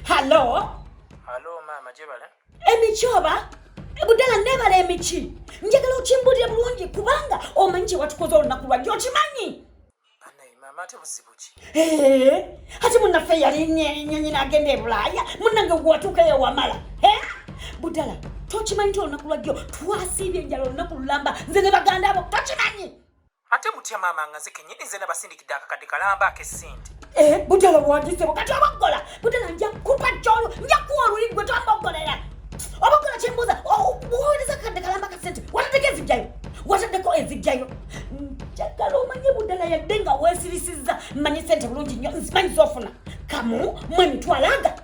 halo halo maama gyebala emiki oba budala nebala emiki njagala okimbulire bulungi kubanga omanyi kyewatukoze olunaku lwajje okimanyi ati munaffe yalinyenyina agenda ebulaaya munange gwatuukayo wamala budala tokimanyi ti olunaku lwajjo twasiibye enjala olunaku lulamba nze ne baganda abo tokimanyi ate mutya maama nga nze kenyini nze nabasindikidde akakadde kalamba akesente eh, butala bwandisebo kati obaggola butala nja kupa kyolu nja kuwa oluli gwe twamboggolera obaggola kyembuuza buwuliriza akakadde kalamba akasente wataddeko ezijjayo wataddeko ezijjayo njagala omanye budala yadde nga wesirisizza mmanyi sente bulungi nnyo nzimanyi zofuna kamu mwe mitwalaga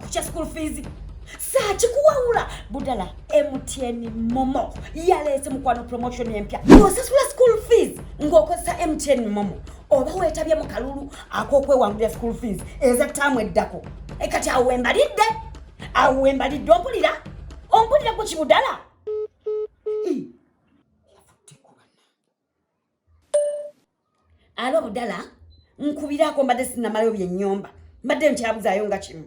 kukya school fees saakikuwawula budala mtn momo yaleese mukwano promotion empya osasula school fees ng'okozesa mtn momo oba weetabye mu kalulu ak'okwewangulira school fees eza taamu eddako e kati awo wembalidde awo wembalidde ompulira ompulira ku kibudala alo budala nkubirako mbadde sinamalayo byenyomba mbadde nkyabuzaayo nga kimu